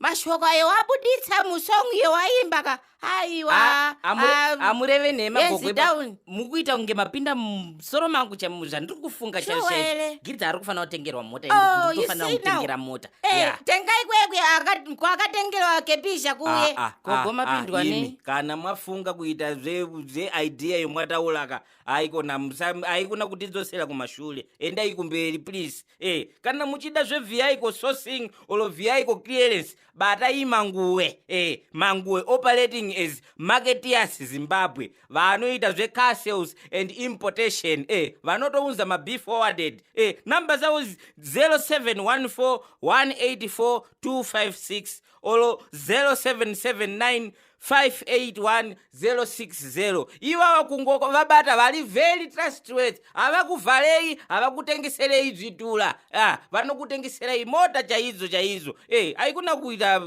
mashoko ayo wabuditsa musong iyo waimba ka aiwa ah, ah, amureve nhema gogoe mukuita kunge mapinda musoro mangu zvandiri kufunga chaigirita ari kufanira kutengerwa mota oh, inofanira kutengera mota eh, tengai kwekwe kwakatengerwa kepisha kuye ah, gogo mapindwa nei kana mwafunga kuita zveidea yomwatauraka haikona haikona kutidzosera kumashure endai kumberi please eh kana muchida zvevehicle sourcing or vehicle clearance batai manguwe eh manguwe operating as marketeers zimbabwe vanoita zvecar sales and importation eh vanotounza mabe forwarded eh number zavo 0714 184 256 or 0779 581060 ivava kungo vabata vari very trustworth havakuvharei havakutengeserei dzvitura ah, vanokutengeserei mota chaidzo chaidzo hey, eh, aikuna kuita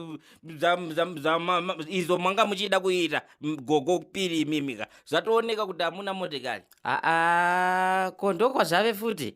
izvo manga muchida kuita gogo piri imimika zvatooneka kuti hamuna motekari aa ah, ah, ko ndokwazvave futi